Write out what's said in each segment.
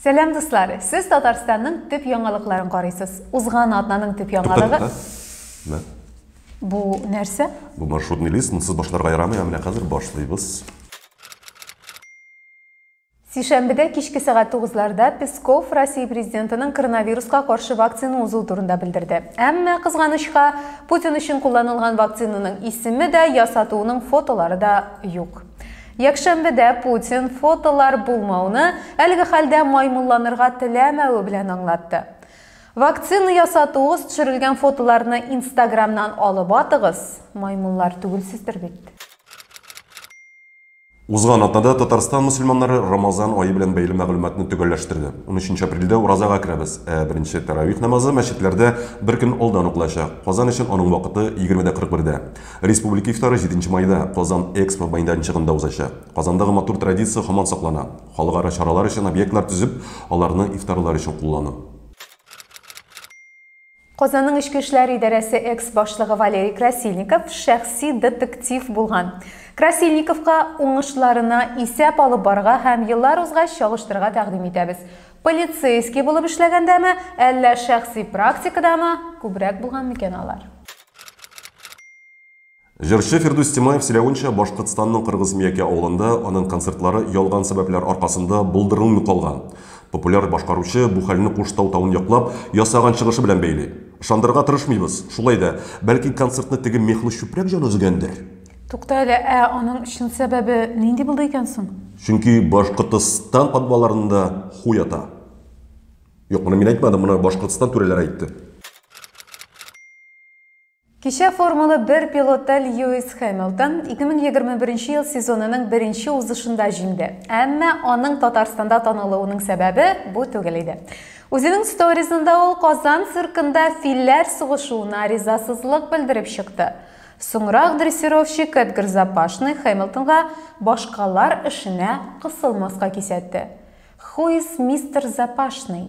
Сәлам дуслар! Сез Татарстанның төп яңалыкларын карыйсыз. Узган атнаның төп яңалыгы... Мә. Бу нәрсә? Бу маршрутный лист, монсыз башларга ярамый, ә менә хәзер башлыйбыз. Сишәмбедә кичке сәгать тугызларда Песков Россия президентының коронавируска каршы вакцина узу турында белдерде. Әмма, кызганычка, Путин өчен кулланылган вакцинаның исеме дә, ясатуының фотолары да юк. Якшәмбедә Путин фотолар булмауны әлеге хәлдә маймылланырга теләмәве белән аңлатты. Вакцина ясатуыгыз төшерелгән фотоларны Инстаграмнан алып атыгыз, маймыллар түгелсездер бит. Узган атнада Татарстан мөселманнары Рамазан ае белән бәйле мәгълүматны төгәлләштерде. Унөченче апрельдә уразага керәбез, ә беренче тәравих намазы мәчетләрдә бер көн алдан укылачак. Казан өчен аның вакыты, егерме дә кырык бердә. Республика ифтары җиденче майда Казан Экспо мәйданчыгында узачак. Казандагы матур традиция һаман саклана, халыкара чаралар өчен объектлар төзеп, аларны ифтарлар өчен куллану. Казанның эчке эшләр идарәсе экс-башлыгы Валерий Красильников шәхси детектив булган. Красильниковка уңышларына исәп алып барырга һәм еллар узгач чагыштырырга тәкъдим итәбез. Полицейский булып эшләгәндәме, әллә шәхси практикадамы күбрәк булган микән алар? Җырчы Фирдүс Тимаев сөйләвенчә, Башкортстанның Кыргызмиякә авылында аның концертлары ялган сәбәпләр аркасында булдырылмый калган. Популяр башкаручы бу хәлне Куштау тавын яклап ясаган чыгышы белән бәйли. Ышандырырга тырышмыйбыз. Шулай да, бәлки концертны теге мехлы чүпрәк җан өзгәндер? Тукта әле, ә аның чын сәбәбе нинди булды икән соң? Чөнки Башкортостан подвалларында ху ята. Юк, моны мин әйтмәдем, моны Башкортостан түрәләре әйтте. Кичә Формула бер пилоты Льюис Хэмилтон 2021 ел сезонының беренче узышында җиңде. Әмма аның Татарстанда танылуының сәбәбе бу түгел иде. Үзенең сторизында ул Казан циркында филләр сугышуына ризасызлык белдереп чыкты. Соңрак дрессировщик Эдгар Запашный Хэмилтонга башкалар эшенә кысылмаска кисәтте. Who is Mister Запашный?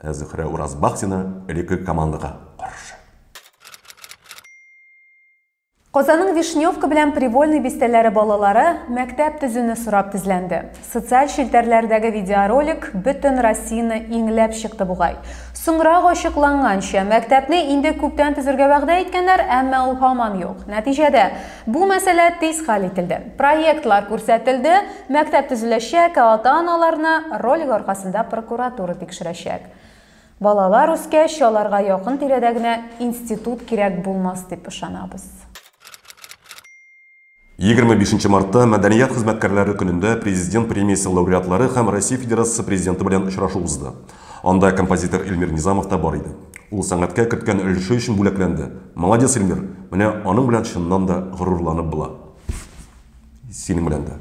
Ә Зөһрә Уразбахтина элекке командага каршы. Казанның Вишневка белән Привольный бистәләре балалары мәктәп төзүне сорап тезләнде. Социаль челтәрләрдәге видеоролик бөтен Россияне иңләп чыкты бугай. Соңрак ачыкланганча, мәктәпне инде күптән төзергә вәгъдә иткәннәр, әмма ул һаман юк. Нәтиҗәдә, Бу мәсьәлә тиз хәл ителде. Проектлар күрсәтелде, мәктәп төзеләчәк, ә ата-аналарны ролик аркасында прокуратура тикшерәчәк. Балалар үскәч, аларга якын тирәдә генә институт кирәк булмас дип ышанабыз. Егерме бишенче мартта, Мәдәният хезмәткәрләре көнендә, Президент премиясе лауреатлары һәм Россия Федерациясе Президенты белән очрашу узды. Анда композитор Эльмир Низамов та бар иде. Ул сәнгатькә керткән өлеше өчен бүләкләнде. Молодец, Эльмир! Менә аның белән чыннан да горурланып була. Синең белән дә.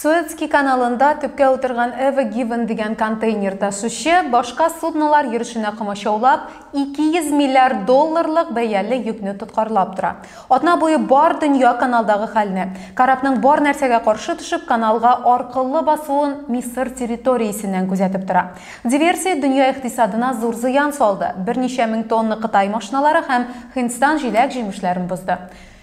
Суэцкий каналында төпкә утырган Ever Given дигән контейнер ташучы башка суднолар йөрешенә комачаулап, 200 миллиард долларлык бәяле йөкне тоткарлап тора. Атна буе бар дөнья каналдагы хәлне, корабның бар нәрсәгә каршы төшеп, каналга аркылы басуын Мисыр территориясеннән күзәтеп тора. Диверсия дөнья икътисадына зур зыян салды, берничә мең тонна кытай машиналары һәм Һиндстан җиләк-җимешләрен бозды.